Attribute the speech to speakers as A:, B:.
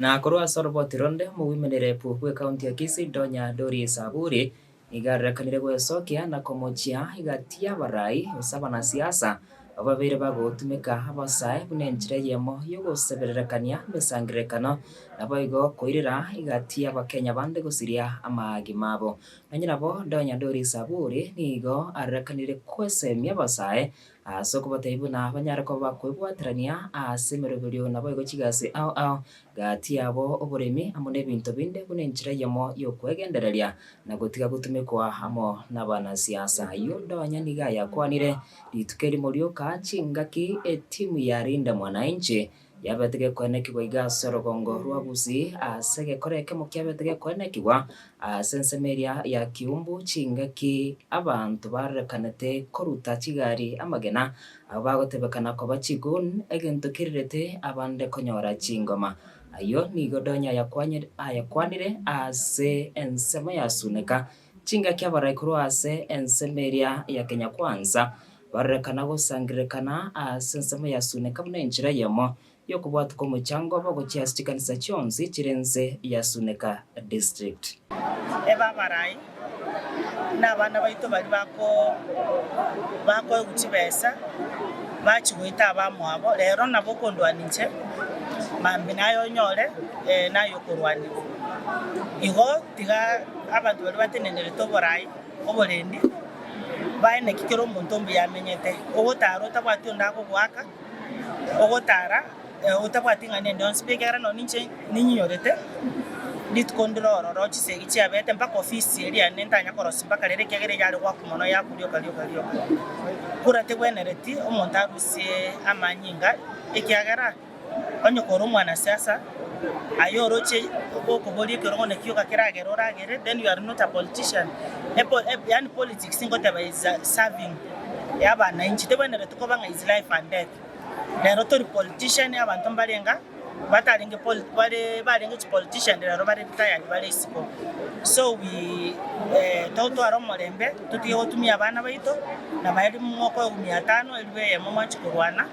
A: Na korwa ase oroboti ronde, omogwimoinere Epugu bw'ekaunti ya Kisii Donya Doris Saburi nigo arerekanire gwesokea na komochia egati y'abarai gose abanasiasa ababeire bagotumeka abasae buna enchera eyemo y'ogosebererekania emesangererekano naboigo koirera egati y'abakenya bande gosiria amagima abo. Onye nabo Donya Doris Saburi nigo arerekanire gwesemia abasae Ase okobatebia buna banyare koba kwebwaterania ase emeroberio naboigo chigasi ao ao gati yabo oboremi amo nebinto binde buna enchera eyemo y'okwegendereria na gotiga gotumekwa amo nabanasiasa. Ayio ndonya nigo ayakwanire rituko erimo rioka chingaki etimu ya Linda Mwananchi Yabete gekoenekigwa iga ase orogongo rwa Gusii, ase egekora ekemo kiabete gekoenekigwa ase ensemo eria ya Kiumbu, chingaki abanto barorekanete koruta chigari amagena, abwo bagotebekana koba chiGun, egento kirirete abande konyora chingoma. Ayio nigo Donya ayakwanire ase ensemo ya Suneka. Chingaki abarai korwa ase ensemo eria ya Kenya Kwanza barorekana gosangererekana ase ensemo ya Suneka buna enchera eyemo y'okobwatia kw'omochango obo gochia ase chikanisa chionsi chire ense ya Suneka District. Ebe abarai na abana baito baria bako bakoegwa chibesa bachi goita abamwabo rero nabo okondwania inche mambia naye onyore naye okorwania igo. Tiga abanto baria batenenderete oboraai oborendi bae naki kera omonto ombuya amenyete, ogotaara otabwati onde agogoaka, ogotaara otabwati ing'ana ende yonsi pi, ekiagera nonye ninche ninyiyorete rituko ndire ororo chisegi chiabete mpaka ofisi eria nere ntanya korosia mpaka rero ekiagera eyare goakwa mono yaakwa rioka rioka rioka. Kura tegwenereti omonto arusie amanyinga ekiagera. Onye kore omwanasiasa aye oroche gokoboria ekerogo naki ogakeragera oragere then you are not a politician yaani politics ngoteba is serving y'abanainchi tebwenereti koba ng'a is life and death rero tori politician abanto mbarenga batarenge barenge chi politician rero bare retired bare isiko so we totware omorembe totige gotumia abana baito nabaria mokoegumia atano eriogo eyemo mwanche korwana.